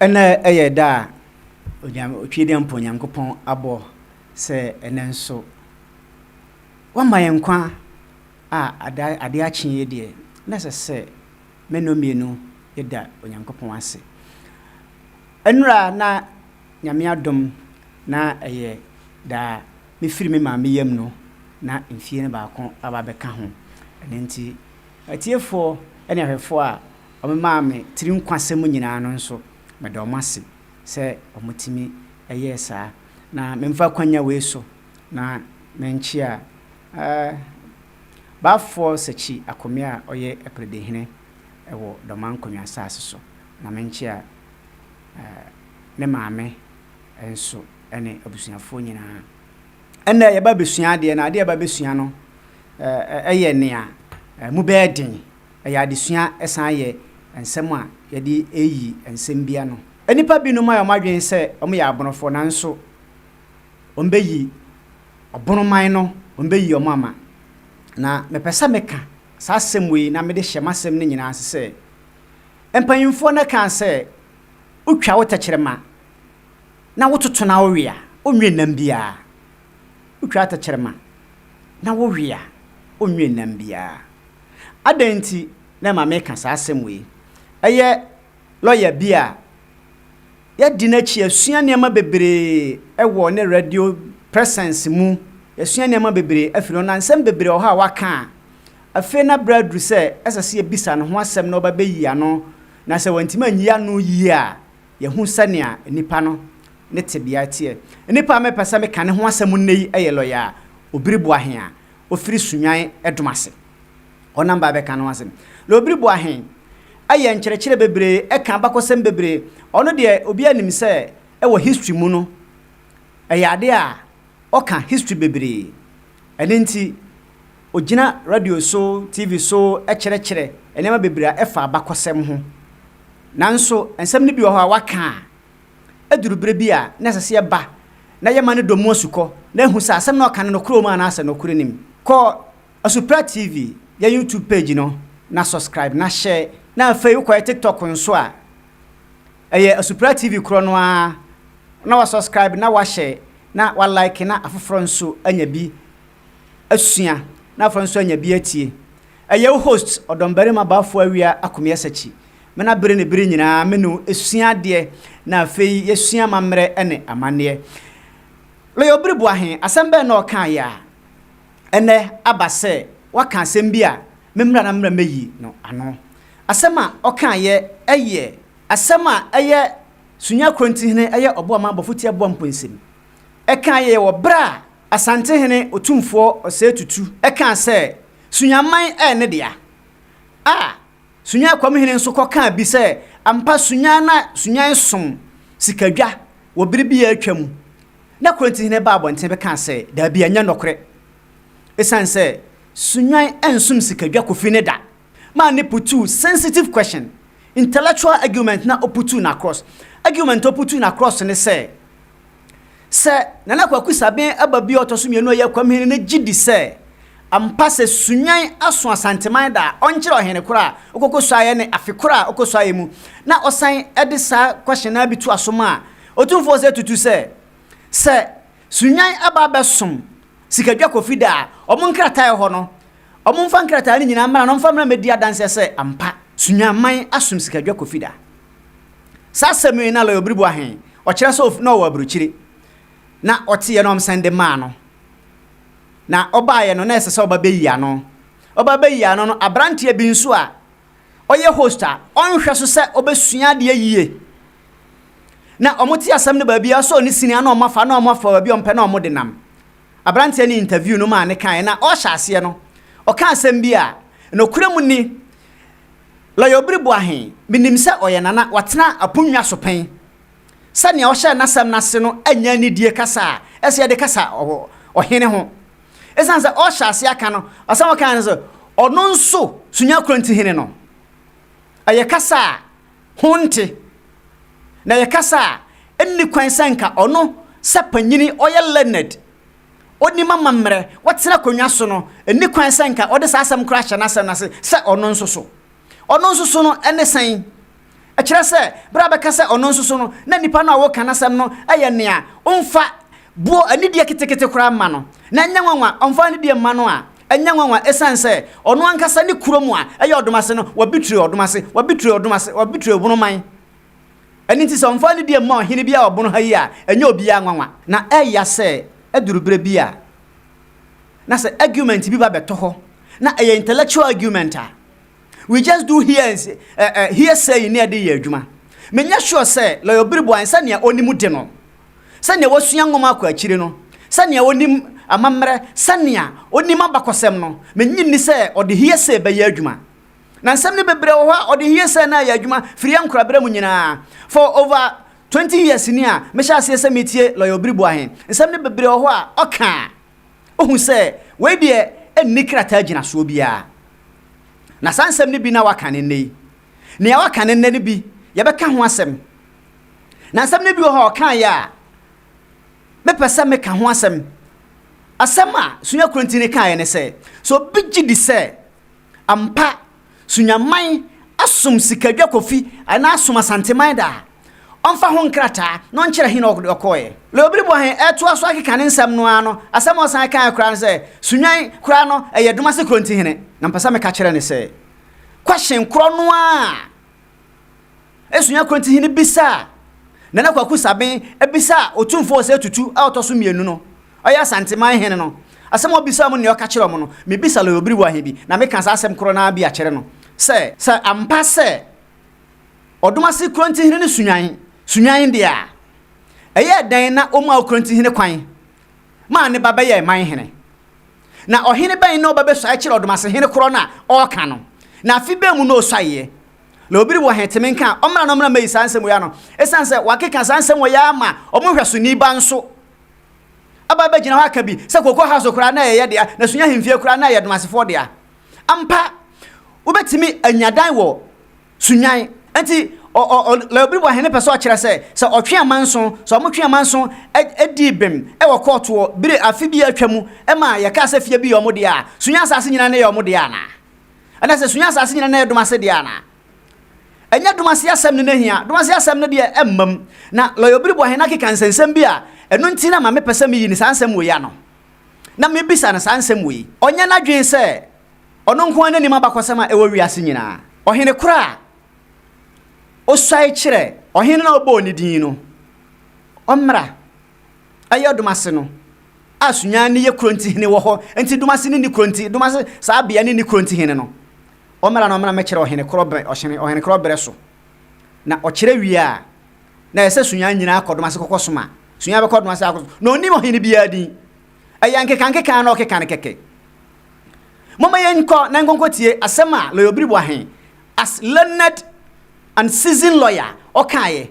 Nna yɛ da a Onyame Otwedeɛmpɔn Nyankopɔn abɔ sɛ ɛnɛ nso wama yɛn nkwa a ada ade akye yi deɛ na ɛsɛ sɛ mɛnɔ mmienu yɛda Onyankopɔn ase. Nnura na Nyame adom na ɛyɛ daa. Me firi me maame yam no na mfie no baako aba bɛka ho. Ɛno nti atiefoɔ ne ahwɛfoɔ a wɔmemaa me tiri nkwasɛm nyinaa no nso meda wɔn ase sɛ wɔtumi yɛɛ saa. Na memfa akwanya wei so na menkyea eh, Baafoɔ Sakyi Akome a ɔyɛ Apiredihene wɔ Dɔmankonwa asaase so. Na menkyea ne maame nso ne abusuafoɔ nyinaa. Ɛnna yɛba bɛsua adeɛ no, adeɛ a yɛba bɛsua no yɛ nea mu bɛyɛ den. Ɛyɛ adesua, ɛsan yɛ nsɛm a yɛde reyi nsɛm bi ano. Nnipa binom ayɛ wɔn adwene sɛ wɔyɛ aborofoɔ, nanso wɔbɛyi ɔboroman no, wɔbɛyi wɔn ama. Na mepɛ sɛ meka saa asɛm wei na mede hyɛ m'asɛm no nyinaa ase sɛ, Mpanyimfoɔ no kaa sɛ, Wotwa wo tɛkyerɛma na wototo na wowe a, ɔnwie nnam biara. Wotwa wo tɛkyerɛma na wowe a, ɔnwie nnam biara. Adɛn nti na ɛma meka saa asɛm wei? Ɛyɛ lɔya bi a yɛadi n'akyi, yɛasua nneɛma bebree wɔ ne radio presence mu, yɛasua nneɛma bebree afiri hɔ, na nsɛm bebree wɔ hɔ a waka a, Afei na bere aduru sɛ ɛsɛ sɛ yebisa no ho asɛm na ɔba beyi ano, na sɛ wantumi anyi ano yiye a, yɛahu sɛnea nipa no ne tebea teɛ. Nipa a mepɛ sɛ meka ne ho asɛm nnɛ yi yɛ lɔya a Obiri Boahen a ofiri Sunyani Ɛdom ase. Ɔnam ba abɛka ne ho asɛm. Lɔya Obiri Boahen ayɛ nkyerɛkyerɛ bebree, ɛka abakɔsɛm bebree. Ɔno deɛ obiara nim sɛ wɔ history mu no, ɛyɛ ade a Ɔka history bebree. Ɛno nti ɔgyina radio so, TV so kyerɛkyerɛ nneɛma bebree a ɛfa abakɔsɛm ho. Nanso nsɛm no bi wɔ hɔ a waka a, ɛduru berɛ bi a na ɛsɛ sɛ yɛba na yɛma no dɔ mu asukɔ na ahu sɛ asɛm no a ɔka no nokorɛ wɔ mu anaasɛ nokorɛ nnim. Kɔ Asuprɛ TV, yɛn YouTube page no na subscribe na hyɛ. Na afei wokɔyɛ TikTok nso a, Ɛyɛ Asupra TV korɔ no ara na wa subscribe na wa share na wa like na afoforɔ nso anya bi asua na afoforɔ nso anya bi atie. Ɛyɛ wo host Ɔdɔmbarima Bafo Awia Akomie Asakyi. Me na bere ne bere nyinaa me ne wo sua adeɛ na afei yɛsua amammerɛ ne amanneɛ. Lawyer Obiri Boahe, asɛm bɛn na ɔkaeɛ a ɛnnɛ aba sɛ woaka asɛm bi a memmra na memmra mmɛyi no ano? Asɛm a ɔkãayɛ yɛ asɛm a ɛyɛ Sunya Korontihene yɛ ɔboa ma abɔfo tia boa mpoensem. Ɛkãayɛ yɛ wɔ bere a Asantehene Otumfoɔ Osei Tutu kãa sɛ Sunyaman yɛ ne dea, a Sunya Akwamhene nso kɔ kãa bi sɛ ampa Sunya na Sunyan som sikadwa wɔ bere bi a atwa mu, na Korontihene baa abɔnten bɛkãa sɛ daabi ɛnyɛ nɔkorɛ esiane sɛ Sunyan nsom sikadwa kofi ne da. maa no putuu sensitive question, intellectual argument na oputuu no across. Argument a oputuu no across ne sɛ, sɛ Nana Kwaku Sabin ba bi a ɔtɔ so mmienu a ɔyɛ Akwamhene no gye di sɛ ampa sɛ Sunyani aso Asanteman da a, ɔnkyerɛ ɔhene koro a ɔkɔkɔsuaeɛ ne afe koro a ɔkɔsuaeɛ mu na ɔsan de saa question no ara bi toa so maa Otumfoɔ sɛ tutu sɛ, sɛ Sunyani ba abɛsom Sikadwa Kofi da a, wɔn nkrataa a ɛwɔ hɔ no, Wɔmfa nkrataa no nyinaa mmra na wɔmfa mmra mmɛdi adanseɛ sɛ ampa Sunyamman asom sikadwa Kofi da. Saa asɛm yi na Lawyer Obiribo Ahe, ɔkyerɛ sɛ na ɔwɔ aburokyire, na ɔteeɛ na wɔsan de maa no. Na ɔbaeɛ no na ɛsɛ sɛ ɔba bɛyi ano. Ɔba bɛyi ano no, aberanteɛ bi nso a ɔyɛ host a ɔnhwɛ so sɛ ɔbɛsua adeɛ yie na wɔte asɛm no baabi a ɛwɔ sɛ ɔne sini a na wɔafa na wɔafa baabi a wɔpɛ na wɔde nam. Aberanteɛ no interview no maa no kaeɛ na ɔrehyɛ aseɛ no, ɔka asɛm bi a nokorɛ mu ni, Lɔya Obiri Boahe, menim sɛ ɔyɛ Nana, watena aponnwa so pɛn. Sɛdeɛ ɔhyɛɛ n'asɛm no ase no nyɛ anidie kasa a ɛsɛ yɛde kasa wɔ ɔhene ho. Ɛsiane sɛ ɔrehyɛ aseɛ aka no, asɛm a ɔkaeɛ ne sɛ, Ɔno nso, Sunya Kronti Hene no, ɛyɛ kasa a ho nte, na yɛkasa a, enni kwan sɛ anka ɔno sɛ panyin ɔyɛ learned, onim amammerɛ, watena akonnwa so no, enni kwan sɛ anka ɔde saa asɛm koro ahyɛ n'asɛm no ase sɛ ɔno nso so. Ɔno nso so no ne sɛn? Ɛkyerɛ sɛ, bere a bɛka sɛ ɔno nso so no, na nipa no a woreka n'asɛm no yɛ nea omfa boɔ anidie ketekete koraa mma no, na ɛnyɛ nwanwa ɔmfa anidie mma no a Ɛnyɛ nwanwa esiane sɛ ɔno ankasa ne kurom a ɛyɛ ɔdom ase no, wɔabitrue ɔdom ase, wɔabitrue ɔdom ase, wɔabitrue ɔbon man. Ɛno nti sɛ ɔmfa anidie mma ɔhene bi a ɔbon ha yi a, ɛnyɛ obiara nwanwa. Na ɛya sɛ ɛduru berɛ bi a, na sɛ argument bi ba bɛtɔ hɔ, na ɛyɛ intellectual argument a, we just do hear and say, eh, eh, hearsaying na yɛde yɛ adwuma. Menyɛ sure sɛ Lawyer Obiribo ansa nea ɔnim de no, sɛnea wasua nwoma akɔ akyiri no, sɛnea onim amammerɛ, sɛnea onim abakɔsɛm no, minnye nni sɛ ɔde hearsay bɛyɛ adwuma. Na nsɛm no bebree wɔ hɔ a ɔde hearsay no ayɛ adwuma firi yɛn nkorabere mu nyinaa. For over twenty years ni a mehyɛ aseɛ sɛ metie Lawyer Obiri Boahen, nsɛm no bebree wɔ hɔ a ɔka a, wohu sɛ wei deɛ ɛnni krataa gyinasoɔ biara. Na saa nsɛm no bi na waka no nnɛ yi. Nea waka no nnɛ no bi, yɛbɛka ho asɛm. Na nsɛm no bi wɔ hɔ a ɔkaeɛ a mepɛ sɛ meka ho asɛm. Asɛm a Sunya Kurantini kaeɛ ne sɛ, sɛ obi gye di sɛ ampa Sunyaman asom Sikadwa Kofi anaa asom Asanteman da a, ɔmfa ho nkrataa na ɔnkyerɛ he na ɔde ɔkɔeɛ. Leobiri bɔ he toa so ara keka ne nsɛm no ara no, asɛm a ɔsan kaeɛ koraa ne sɛ, Sunyan koraa no, ɛyɛ Domase Kurantihene. Na mepɛ sɛ meka kyerɛ no sɛ, Kwahyen korɔ no ara a Asua Korintihene bisaa Nana Kwaku Sabin bisaa Otumfoɔ Osei Tutu a ɔtɔ so mmienu no, ɔyɛ Asanteman hene no, asɛm a ɔbisaa wɔn ne nea ɔka kyerɛɛ wɔn no. Mebisa Lawyer Obiriwa he bi, na meka saa asɛm korɔ no ara bi akyerɛ no sɛ, sɛ ampa sɛ Ɔdomase Korintihene no sunyan sunyan deɛ a, ɛyɛɛ dɛn na wɔmaa Okorintihene kwan maa ne ba bɛyɛɛ man hene? Na ɔhene bɛn na ɔba bɛsuae kyerɛɛ Ɔdomasehene korɔ no a ɔɔka no? Na afe bɛn mu na ɔsuaeɛ? Na obi wɔ he tumi nka a, ɔmmra na ɔmmra mmɛyi saa nsɛm wei ano. Esiane sɛ wɔakeka saa nsɛm wɔ yi ara ma wɔn nhwɛsoni ba nso aba abɛgyina hɔ aka bi sɛ Cocoa House koraa na ɛyɛ yɛ dea, na Sunya Hemfie koraa na ɛyɛ Adumasefoɔ dea. Ampa, wobɛtumi anya dan wɔ Sunyan. Enti ɔ, ɔ, ɔ, Laobiriboa hene pɛ sɛ ɔkyerɛ sɛ, sɛ ɔtwe amanso, sɛ wɔtwe amanso ɛ, ɛ, dii bem wɔ kɔɔtoɔ bere afe bi a atwa mu ma yɛkaa sɛ fie bi yɛ wɔn dea a, Sunya asaase nyinaa na ɛyɛ wɔn dea anaa? Ɛna sɛ sua asase nyina na ɛdom ase deɛ anaa? Ɛnyɛ dom ase asɛm ne na hia, dom ase asɛm no deɛ ɛmmam. Na Lɔya Obiriboahe no akeka nsɛnsɛm bi a ɛno nti na ma mepɛ sɛ meyi no saa nsɛm wei ano, na mebisa no saa nsɛm wei. Ɔnyɛ n'adwene sɛ ɔno nko ara na nim abakɔsɛm a ɛwɔ wiase nyinaa. Ɔhene korɔ a ɔsuae kyerɛ ɔhene no a ɔbɔɔ ne din no, ɔmmra ɛyɛ Dumase no, a Sunyani no yɛ kuro ntihene wɔ hɔ, nti Dumase no nni kuro nti, Dumase, saa bea no nni kuro ntihene no. Ɔmmra na ɔmma na mɛkyerɛ ɔhene korɔ bɛ, ɔhene, ɔhene korɔ berɛ so. Na ɔkyerɛ wie a, na ɛyɛ sɛ Sunyani nyinaa kɔ Dumase kɔkɔ soma. Sunyani bɛkɔ Dumase akɔ, na ɔnnim ɔhene biara din. Ɛyɛ nkeka nkeka na ɔkeka no kɛkɛ. Momma yɛnkɔ na nkɔnkɔ tie asɛm a Lɔya Obiribu Ahen, as learned and seasoned lawyer, ɔkaeɛ.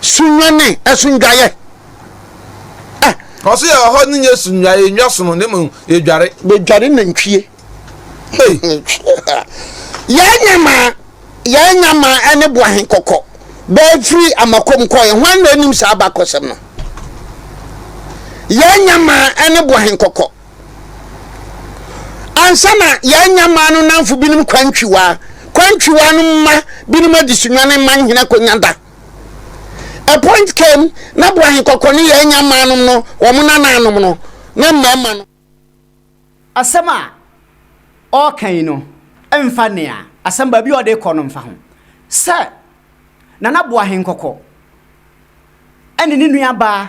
Sunyani asundwaeɛ a. Ɔso yɛ ɔhɔ no nyɛ sundwaeɛ nnwa sono ne mmom yɛdware. Bɛdware nantwie. Hey. Yɛn nyamaa yɛn nyamaa ne boahe kɔkɔ bɛɛ firi amakom kɔɛ hwan na anim saa abakɔsɛm no? Yɛn nyamaa ne boahe kɔkɔ Ansa na yɛanya mmaa no nnamfo binom kwantwiwaa, kwantwiwaa no mma binom adesonwa ne mma nhene akonya da. A point came na bo ahenkɔkɔ ne yɛanya mmaa nom no, wɔn nanaanom no, ne mmarima no. Asɛm a ɔreka yi no mfa nea asɛm baabi a ɔde rekɔ no mfa ho sɛ Nana Boahenkɔkɔ ne ne nuabaa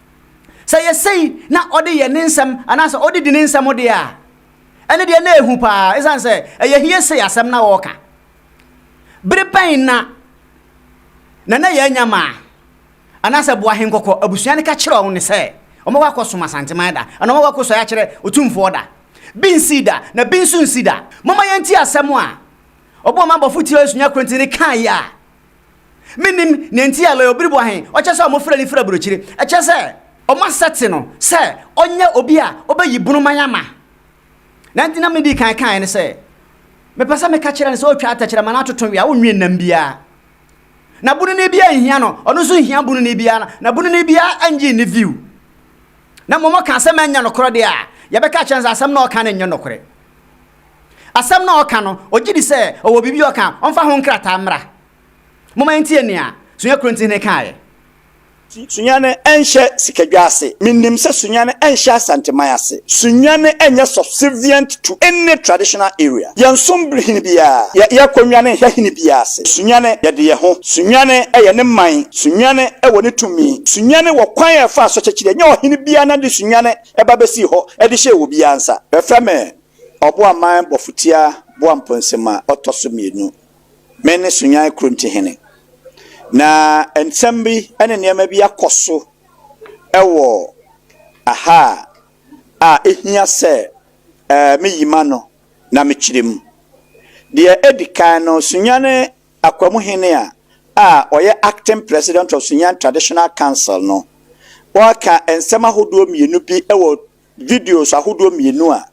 Sɛ yɛ sei na ɔde yɛ ne nsɛm anaasɛ ɔde di ne nsɛm deɛ a, ɛne deɛ na ɛhu paa, ɛsiane sɛ ɛyɛ hie sei asɛm na ɔreka. Bere bɛn na Nana Yaa Nyamaa anaasɛ Boahe Nkɔkɔ abusua no ka kyerɛɛ wɔn sɛ wɔbɛkɔ akɔsom Asanteman da anaa wɔbɛkɔ akɔsɔre akyerɛ Otumfoɔ da? Bi nsii da, na bi nso nsi da. Momma yɛntie asɛm a ɔbɔɔ m'abɔfo tiawa sunya kontini kaeɛ a. Mennim nea enti a Lawyer Obiribo Ahe ɔkyɛ sɛ wɔfrɛ no firi aburokyire. Ɛkyɛ sɛ wɔasɛte no sɛ ɔnyɛ obi a ɔbɛyi bunu man ama. Nea enti na medi kan kaeɛ ne sɛ, mepɛ sɛ meka kyerɛ no sɛ ɔretwa tɛkyerɛma na atoto wea, ɔnwie nnam biara. Na bununi biara nhia no, ɔno nso nhia bununi biara, na bununi biara nnye nni view. Na mmom ɔka asɛm a ɛnyɛ nokorɛ deɛ a, yɛbɛka akyerɛ no sɛ asɛm no a ɔka no nyɛ nokorɛ. Asɛm no a ɔka no, ogye di sɛ ɔwɔ biribi a ɔka a ɔmfa ho nkrataa mmra. Momma yɛntie nea Sunya Korinthini kaeɛ. Sunyane nhyɛ sikadwa ase. Menim sɛ Sunyane nhyɛ Asanteman ase. Sunyane nyɛ subservient to any traditional area. Yɛnsom hene biara. Yɛ, yɛkɔ nnwane nhwɛ hene biara ase. Sunyane, yɛde yɛn ho. Sunyane yɛ ne man. Sunyane wɔ ne tumi. Sunyane wɔ kwan a ɛfa so kyɛkyerɛ. Ɛnyɛ ɔhene biara na de Sunyane ba bɛsii hɔ de hyɛɛ obiara nsa. Bɛfrɛ me Ɔboaman Bɔfotia Boamponsem a ɔtɔ so mmienu. Me ne Sunyan Korontihene. Na nsɛm bi ne nneɛma bi akɔ so wɔ ha a ɛhia sɛ meyi m'ano na mekyerɛ mu. Deɛ ɛdi kan no, Sunyan Akwamuhene a a ɔyɛ Acting President of Sunyan Traditional Council no, ɔreka nsɛm ahodoɔ mmienu bi wɔ videos ahodoɔ mmienu a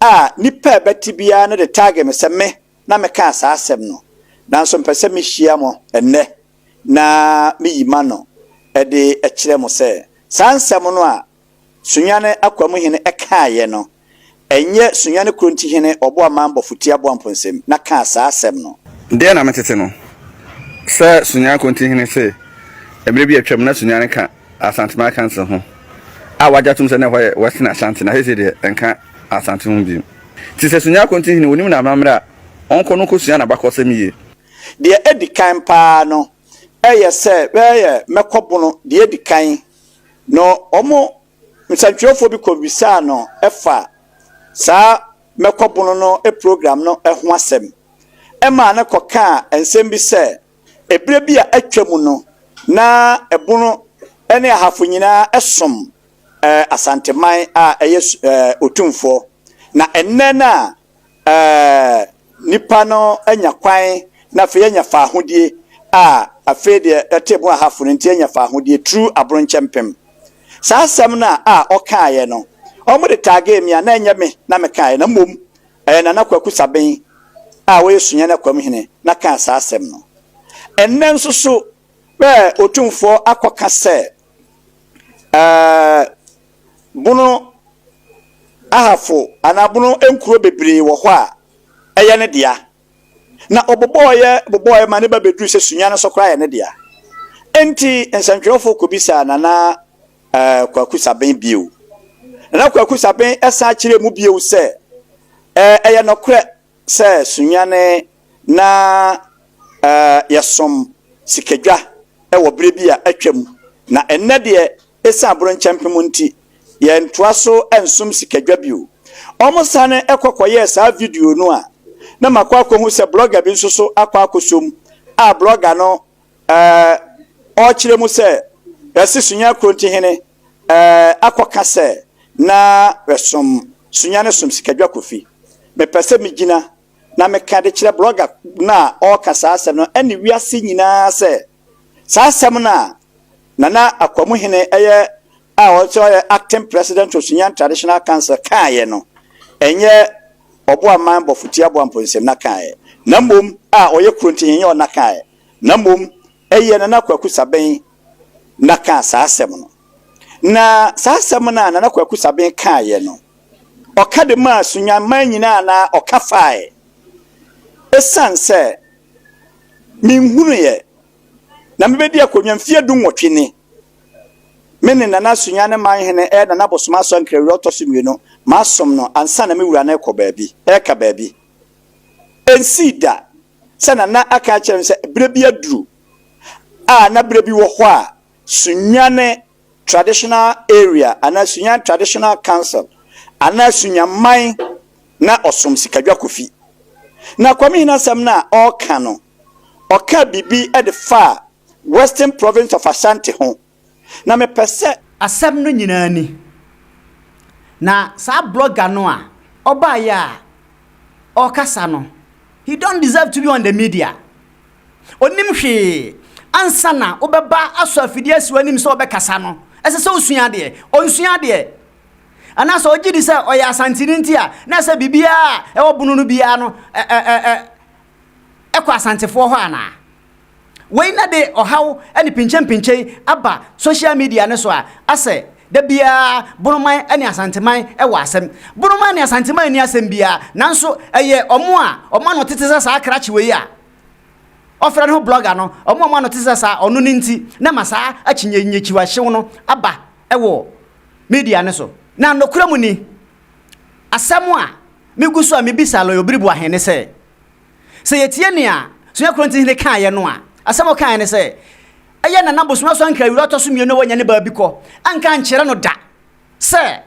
a nipa a ɛbɛte biara no de tag me sɛ me na mekaa saa asɛm no, nanso mpɛ sɛ mehyia mo ɛnnɛ na meyi m'ano de kyerɛ mo sɛ saa nsɛm no a Sunyani Akwamuhene kaeɛ no, ɛnyɛ Sunyani Kurontihene Ɔboaman Bɔfotia Aboamponsem na kaa saa asɛm no. Deɛ na metete no, sɛ Sunyani Kurontihene se mmerɛ bi atwam na Sunyani ka Asante Makanse ho a wɔagye atom sɛ na ɛhɔ yɛ Western Asante na seesei deɛ ɛnka Asante ho bio. Te sɛ Sunyani Akonte Hene, wɔnim no amammerɛ a, ɔnkɔ no nkɔsua n'abakɔsɛm yie. Deɛ ɛdi kan pa ara no, ɛyɛ sɛ bɛyɛ Mɛkɔbono deɛ ɛdi kan no, wɔn nsɛntwerɛfoɔ bi kɔbisaa no fa saa Mɛkɔbono no program no ho asɛm, ɛmaa no kɔkaa nsɛm bi sɛ, Ɛberɛ bi a atwa mu no, na ɛbono ne ahafo nyinaa som Asanteman a ɛyɛ Otumfoɔ. Na ɛnnɛ no a nnipa no anya kwan na afei anya faahodie a afei deɛ ɛte bono ahafo no nti anya faahodie tru Aboronkyɛmpem. Saa asɛm no a ɔkaeɛ no, wɔde tagee me a na ɛnyɛ me na mekaeɛ na mmom Ɛyɛ Nana Kwaku Saben a ɔyɛ Sunyani Akwam hene na kaa saa asɛm no. Ɛnnɛ nso so bɛ Otumfoɔ akɔka sɛ ɛɛ Bono Ahafo anaa Bono nkuro bebree wɔ hɔ a ɛyɛ ne dea. Na ɔbobɔɔeɛ bobɔɔeɛ ma ne ba bɛduru sɛ Sunyani nso koraa yɛ ne dea. Enti nsɛntwerɛfoɔ kɔbisaa Nana Ɛɛ Kwaku Sabin bio. Na Kwaku Sabin san kyerɛɛ mu bio sɛ, Ɛɛ, ɛyɛ nokorɛ sɛ Sunyani na ɛɛ yɛsom sikadwa wɔ berɛ bi a atwam, na ɛnnɛ deɛ ɛsiane abronkyɛmpem nti, yɛntoa so nsom sikadwa bio. Wɔsane kɔ kɔyɛɛ saa video no a, na makɔ akɔhu sɛ blogger bi nso so akɔ akɔsom a blogger no Ɛɛ, ɔrekyerɛ mu sɛ, Bɛse Sunya Krontinhene ɛɛ akɔka sɛ, Na bɛsom Sunya no som Sikadwa Kofi. Mepɛ sɛ megyina na meka de kyerɛ blɔga no a ɔreka saa asɛm no ɛne wiase nyinaa sɛ, saa asɛm no a Nana Akwamuhene ɛyɛ a ɔte sɛ ɔyɛ Acting President of Sunyan Traditional Council kaeɛ no, ɛnyɛ Ɔboa mman bɔfo tia boa mpo nsɛm na ka ɛ, na mmom a ɔyɛ kuro nti henyɛ ɔna ka ɛ, na mmom ɛyɛ Nana Kwaku Sabɛn na kaa saa asɛm no. Na saa asɛm no a Nana Kwaku Sabɛn kaeɛ no, ɔka de maa Sunyani man nyinaa anaa ɔka faa ɛ? Ɛsiane sɛ menhunuiɛ na mebɛdi akonnwa mfeɛ du-nwɔtwe ni, Me ne Nana Sunya ne man hene ɛyɛ Nana Bosom Asɔ Nkrɛ wura ɔtɔ so mmienu. Masom no ansa na me wura no rekɔ baabi, reka baabi. Ɛnsii da sɛ Nana aka akyerɛ me sɛ berɛ bi aduru a na berɛ bi wɔ hɔ a Sunyane Traditional Area anaa Sunyane Traditional Council anaa Sunyaman na ɔsom Sikadwa Kofi. Na Kwame Hene asɛm no a ɔreka no, ɔkaa biribi de faa Western Province of Ashanti ho, na mepɛ sɛ. Asɛm no nyinaa ni, na saa blogger no a ɔbaeɛ a ɔrekasa no, he don't deserve to be on the media. Ɔnnim hwee. Ansa na wobɛba asɔ afidie asi w'anim sɛ wobɛkasa no, ɛsɛ sɛ wosua adeɛ. Ɔnsua adeɛ. Anaasɛ ɔgye di sɛ ɔyɛ Asanteni nti a, na ɛsɛ biribiara a ɛwɔ bono no biara no, ɛ, ɛ, ɛ, ɛ, ɛkɔ Asantefoɔ hɔ anaa? Wei na de ɔhaw ne pinkyenpinkyen aba social media no so a asɛ da biara Bonoman ne Asanteman wɔ asɛm. Bonoman ne Asanteman nni asɛm biara nanso ɛyɛ wɔn a wɔn ano tete sɛ saa krakye wei a ɔfrɛ ne ho blogger no, wɔn a wɔn ano tete sɛ saa ɔno no nti na ma saa akyinnyekyiwahyew no aba wɔ media no so. Na nokorɛ mu ni, asɛm a megu so a mebisa Lawyer Obiribu ahe ne sɛ, Sɛ yetie nea Sonia Korinthihene kaeɛ no a, asɛm a ɔkaeɛ ne sɛ, Ɛyɛ Nana Bosomesua Nkaewura a ɔtɔ so mmienu a wanya ne baa bi kɔ. Anka ankyerɛ no da sɛ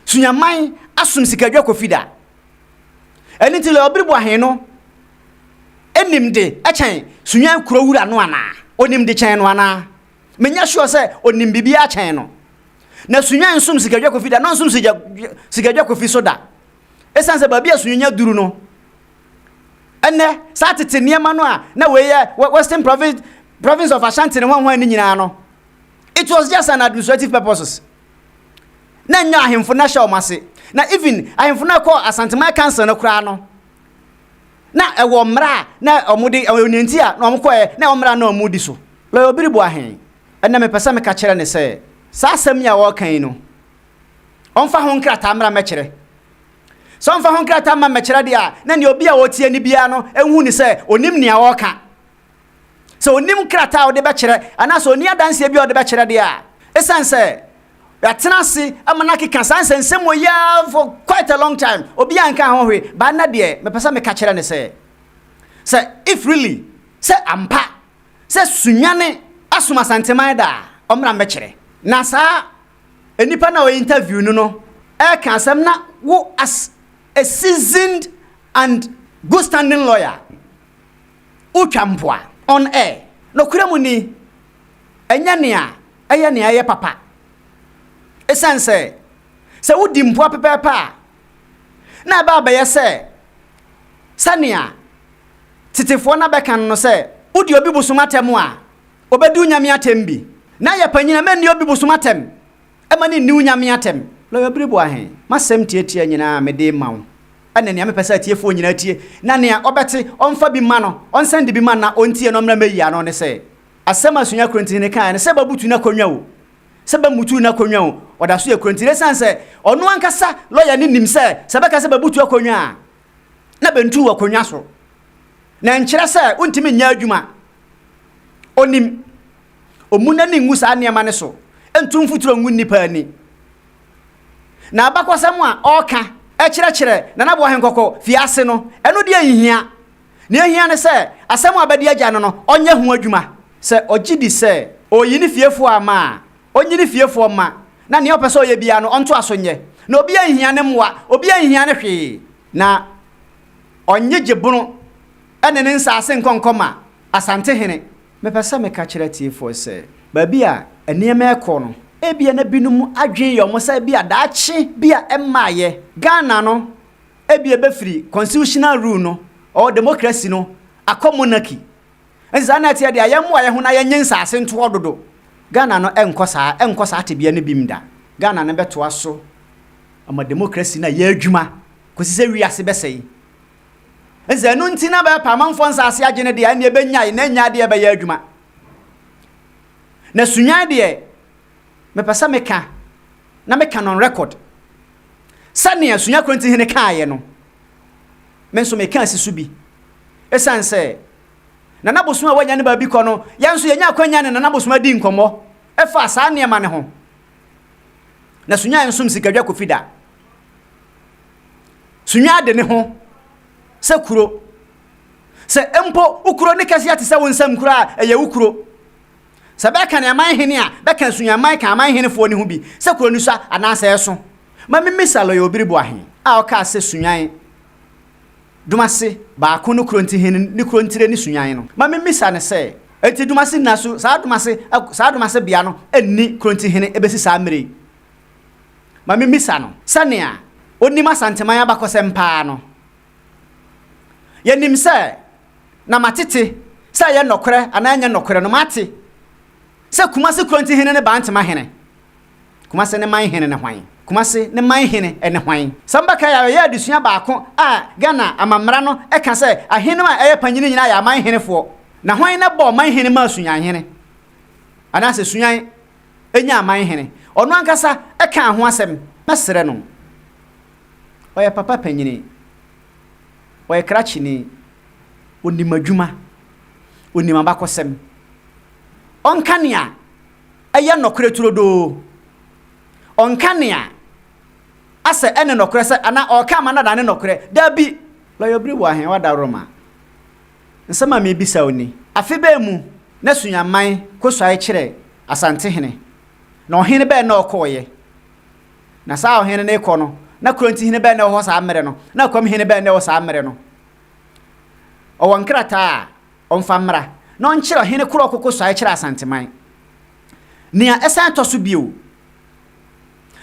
Soniaman asom sikaadwa Kofi da. Ɛno nti Lawyer Obiriboahe no nim de kyɛn Sonyan Kurowura no anaa? Ɔnim de kyɛn no anaa? Menyɛ sure sɛ ɔnim biribiara kyɛn no. Na Sonyan nsom sikaadwa Kofi da, na ɔnsom sikaadwa Kofi so da. Esiane sɛ baabi a Sunyanya duru no, ɛnnɛ, saa tete nneɛma no a na wei yɛ Western Province, Province of Ashanti ne hwan hwan no nyinaa no, it was just an administrative purposes. Na nyɛ ahemfo na hyɛ wɔn ase. Na even ahemfo na ɛkɔ Asanteman Council no koraa no, na ɛwɔ mmara a na wɔn de ɛwɔ nea nti a na wɔn kɔɛ na ɛwɔ mmara na wɔn di so. Lɔya Obiribo ahe? Ɛnna mepɛ sɛ meka kyerɛ ne sɛ, saa asɛm yi a wɔreka yi no, Ɔmfa ho nkrataa mmra mmɛkyerɛ. Sɛ ɔmfa ho nkrataa mma mmɛkyerɛ deɛ a, na nea obi a ɔretie no biara no nhu no sɛ ɔnim nea ɔreka. Sɛ ɔnim krataa a ɔde bɛkyerɛ anaasɛ ɔnni adanseɛ bi a ɔde bɛkyerɛ deɛ a, ɛsiane sɛ yɛatena ase ama no akeka saa nsɛnsɛm wɔ yi ara for quite a long time, obiara nkaa ho hwee. But ɛnnɛ deɛ, mepɛ sɛ meka kyerɛ no sɛ, sɛ if really sɛ ampa sɛ Sunyani asom Asanteman da a, ɔmmra mmɛkyerɛ. Na saa Nnipa no a wɔyɛ interview no no reka asɛm na wo as a seasoned and good standing lawyer wotwa mpoa on air. Nokorɛ mu ni, ɛnyɛ nea ɛyɛ nea ɛyɛ papa. Esiane sɛ, sɛ wodi mpoa pɛpɛɛpɛ a, na ɛba abɛyɛ sɛ sɛnea tetefoɔ no abɛka no no sɛ wodi obi bosom atɛm a, Ɔbɛdi wo nyame atɛm bi. Na yɛ panyin a mɛnni obi bosom atɛm. Ɛma no nni wo nyame atɛm. Lawyer Biriboa he, m'asɛm tiatia nyinaa a mede rema wo ne nea mepɛ sɛ atiefoɔ nyinaa tie, na nea ɔbɛte ɔmfa bi mma no, ɔnsan de bi mma no na ɔntie no mmra mmɛyi ano ne sɛ, asɛm a Sunya Korinti he kaeɛ no, sɛ bɛabutu no akonnwa o, sɛ bɛammutu no akonnwa o, ɔda so yɛ Korinti. Na esiane sɛ ɔno ankasa, lawyer no, nim sɛ, sɛ bɛka sɛ bɛabutu akonnwa a, na bentu wɔ akonnwa so, na ɛnkyerɛ sɛ wontumi nyɛ adwuma. Onim. Ommu n'ani ngu saa nneɛma no so, ntu mfuturo ngu nnipa ani. Na abakɔsɛm a ɔreka kyerɛkyerɛ Nana Boahen Kɔkɔ fi ase no, ɛno deɛ nhia. Nea ehia ne sɛ asɛm a abɛde agya no no, ɔnyɛ ho adwuma. Sɛ ogye di sɛ ɔreyi ne fiefoɔ ama a, Ɔnyi ne fiefoɔ mma, na nea ɔpɛ sɛ ɔyɛ biara no, ɔntoa so nyɛ. Na obiara nhia ne mmoa, obiara nhia no hwee, na ɔnnye Gyebono ne ne nsaase nkɔ nkɔma Asantehene. Mepɛ sɛ meka kyerɛ atiefoɔ sɛ, baabi a nneɛma rekɔ no, ebia na binom adwene yɛ wɔn sɛ ebia daakye bi a ɛmmaeɛ, Ghana no ebia ɛbɛfiri constitutional rule no, or democracy no, akɔ monarchy. Ɛnti saa na ɛteɛ deɛ yɛn mmoa yɛn ho na yɛn nye nsaase ntoɔ dodo. Ghana no ɛnkɔ saa, ɛnkɔ saa tebea no bim da. Ghana no bɛtoa so ama democracy no ayɛ adwuma kɔsi sɛ wiase bɛsɛe. Ɛnti sɛ ɛno nti na bɛɛpɛ amanfoɔ nsaase agye no deɛ ɛnneɛ ɛbɛnyae na ɛnyae deɛ ɛbɛyɛ adwuma. Na Sunyani deɛ mepɛ sɛ meka na meka no on record sɛnea Sunya Kronti Hene kaaeɛ no me nso meka si so bi ɛsiane sɛ Nana Bosom a wanya ne baabi kɔ no, yɛn nso yɛnya akwanya ne Nana Bosom adi nkɔmmɔ ɛfaa saa nneɛma no ho. Na Sunya nsom Sikadwa Kofi da. Sunya ade ne ho sɛ kuro. Sɛ mpo wo kuro ne kɛseɛ te sɛ wo nsam kuro a, ɛyɛ wo kuro. Sɛ bɛka ne aman hene a, bɛka Sunyaman ka aman henefoɔ no ho bi sɛ kuro no sua anaasɛ ɛso. Ma memmisa Lɔya Obiri Boahe a ɔkaa sɛ Sunyan Dumase baako no kurow ntihen ne kurow ntire ne Sunyan no. Ma mimmisa no sɛ, enti Dumase nna so, saa Dumase, saa Dumase bea no nni kurow ntihen besi saa mmere yi? Ma mimmisa no, sɛnea onim Asanteman abakɔsɛm paa no. Yenim sɛ, na matete, sɛ ɛyɛ nɔkorɛ anaa ɛnyɛ nɔkorɛ no, mate sɛ Kumase kurow ntihen ne Bantama hene Kumase ne man hene ne hwan? Kumase ne man hene ne hwan? Samba Kayar ɔyɛ adesua baako a Ghana amammara no ka sɛ ahenem a ɛyɛ panyini nyinaa yɛ aman henefoɔ. Na hwan na bɔɔ man hene maa Suyan hene? Anaasɛ Suyan nyaa man hene? Ɔno ankasa kaa ho asɛm. Mɛsrɛ no. Ɔyɛ papa panyini. Ɔyɛ krakyeni. Ɔnim adwuma. Ɔnim abakɔsɛm. Ɔnka nea yɛ nɔkorɛ turodoo. Ɔnka nea asɛ ɛne nɔkorɛ sɛ anaa ɔreka ama no ada ne nɔkorɛ. Dabi! Lɔyɔ bere wɔ ahe? W'adaworoma. Nsɛm a merebisa wo ni. Afe bɛn mu na Sunyamman kɔsuae kyerɛɛ Asantehene, na ɔhene bɛn na ɔkɔeɛ? Na saa ɔhene no rekɔ no, na Kurontihene bɛn na ɛwɔ hɔ saa mmerɛ no, na Akwamhene bɛn na ɛwɔ saa mmerɛ no? Ɔwɔ nkrataa a Ɔmfa mmra, na ɔnkyerɛ ɔhene koro a ɔkoko so a ɛkyerɛ Asanteman. Nea ɛsan tɔ so bio,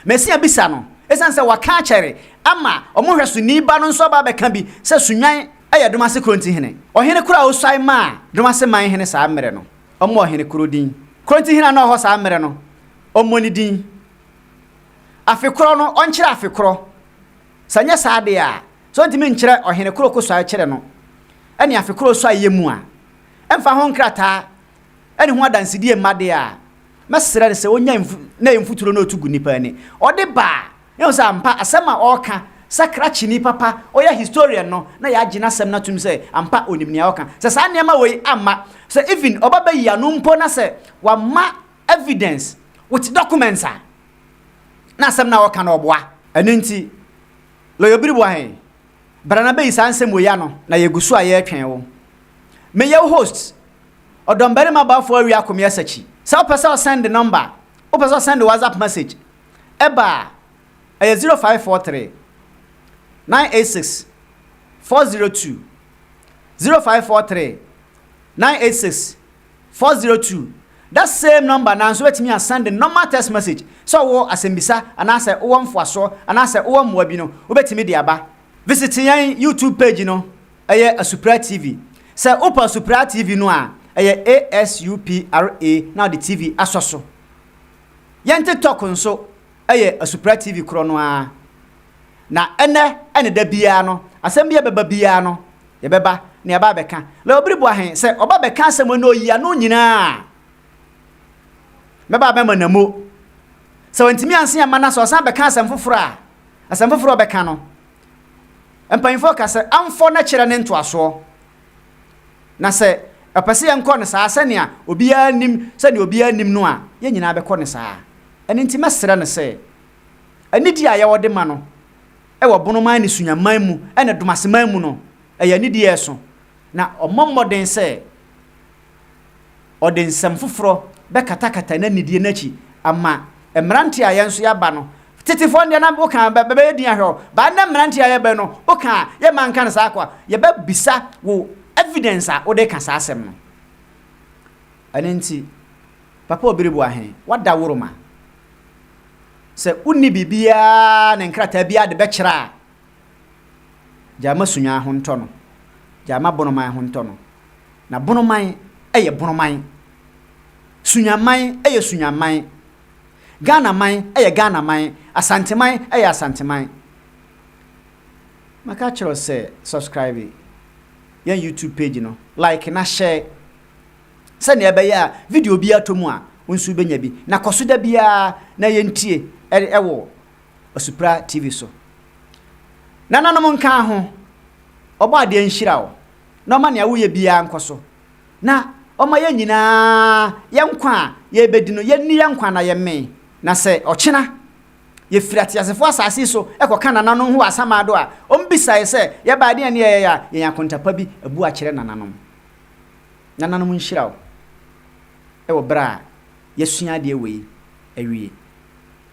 masi abisa no esiane sɛ waka akyɛre ama wɔn nhwɛsoni ba no nso aba abɛka bi sɛ Sunwan yɛ Domase Kronti hene. Ɔhene koro a osuae maa Domase man hene saa mmere no, ɔmmɔ ɔhene koro din. Kronti hene a na ɔwɔ hɔ saa mmere no, ɔmmɔ ne din. Afe koro no, ɔnkyerɛ afe koro Sɛ ɛnyɛ saa deɛ a, sɛ ɔntumi nkyerɛ ɔhene koro ko so a ɛkyerɛ no ne afe koro so a ɛyɛ mu a, ɛmfa ho nkrataa a ɛne ho adansedie mma deɛ a, mɛsrɛ no sɛ ɔnya mfu na ɛyɛ mfuturo na ɔtu gu nnipa ani. Ɔde ba a, yɛhu sɛ ampa asɛm a ɔreka sɛ krakyeni papa, ɔyɛ historian no, na yɛagye n'asɛm no atom sɛ ampa ɔnim nea ɔreka. Sɛ saa nneɛma wei amma, sɛ even ɔba bɛyi ano mpo na sɛ wamma evidence with documents a, na asɛm no a ɔka no ɔboa. Ɛno nti, Lɔyɔ Biriboa he, bra na bɛyi saa nsɛm wei ano na yɛgu so a yɛretwɛn wo. Meyɛ wo host, Ɔdɔmbarima Boafo Awia Komeɛ Sakyi. Sɛ wopɛ sɛ ɔsɛnde nɔmba, wopɛ sɛ ɔsɛnde WhatsApp message ba a, ɛyɛ 0543 986 402, 0543 986. Four zero two, That same number naa nso bɛtumi a send normal text message sɛ wowɔ asɛmbisa anaasɛ wowɔ mfoasoɔ anaasɛ wowɔ mmoa bi no wobɛtumi de aba. Visit yɛn YouTube page no, ɛyɛ Asupra TV. Sɛ wopɛ Asupra TV no a, ɛyɛ ASUPRA na wode TV asɔ so. Yɛn TikTok nso. yɛ Asupra TV korɔ no ara. Na ɛnnɛ ne da biara no, asɛm bi a ɛbɛba biara no, yɛbɛba na yɛaba abɛka. Leo Biri Boahe, sɛ ɔba bɛka asɛm a na ɔyi ano nyinaa a, mɛba abɛma no amu. Sɛ wantumi anse amma no a, sɛ ɔsan bɛka asɛm foforɔ a, asɛm foforɔ a ɔbɛka no, mpanimfoɔ ka sɛ, amfɔ na kyerɛ ne ntoasoɔ. Na sɛ ɔpɛ sɛ yɛnkɔ no saa sɛnea obiara nnim sɛnea obiara nnim no a, yɛn nyinaa bɛkɔ no saa. Ɛno nti mɛsrɛ no sɛ anidie a yɛwɔ de ma no wɔ bonoman ne sunyaman mu ne domaseman mu no, ɛyɛ anidie a ɛso, na ɔmmɔ mmɔden sɛ ɔde nsɛm foforɔ bɛkatakata n'anidie no akyi ama mmeranteɛ a yɛn nso yɛaba no. Tetefoɔ no deɛ na woka bɛ bɛyɛ din ahwɛ o, but ɛnnɛ mmeranteɛ a yɛbɛn no, woka a yɛmma nka no saa kwa, yɛbɛbisa wo evidence a wode ka saa asɛm no. Ɛno nti, Papa Obiriboahe, woada woro ma. Sɛ wonni biribiara ne nkrataa biara de bɛkyerɛ a, Gyaa ma sunyaa ho ntɔ no. Gyaa ma bonoman ho ntɔ no. Na bonoman yɛ bonoman. Sunyaman yɛ sunyaman. Ghanaman yɛ Ghanaman. Asanteman yɛ Asanteman. Maka akyerɛ wo sɛ subscribe yɛn YouTube page no, like na share sɛnea ɛbɛyɛ a video biara tɔ mu a wo nso wobɛnya bi. Na kɔ so da biara na yɛntie wɔ Asupra TV so. Nananom nkaa ho, Ɔbɔadeɛ nhyira wo, na ɔma nea woyɛ biara nkɔ so, na ɔma yɛn nyinaa yɛn nkwa a yɛrebɛdi no, yɛnni yɛn nkwa na yɛmmee, na sɛ ɔkyena yɛfiri ateasefoɔ asase yi so kɔka nananom ho wɔ asamando a, wɔbisaeɛ sɛ, Yɛbaa deɛn ne yɛyɛeɛ a yɛn akonta pa bi abu akyerɛ nananom? Nananom nhyira wo wɔ berɛ a yɛasua adeɛ wei awie.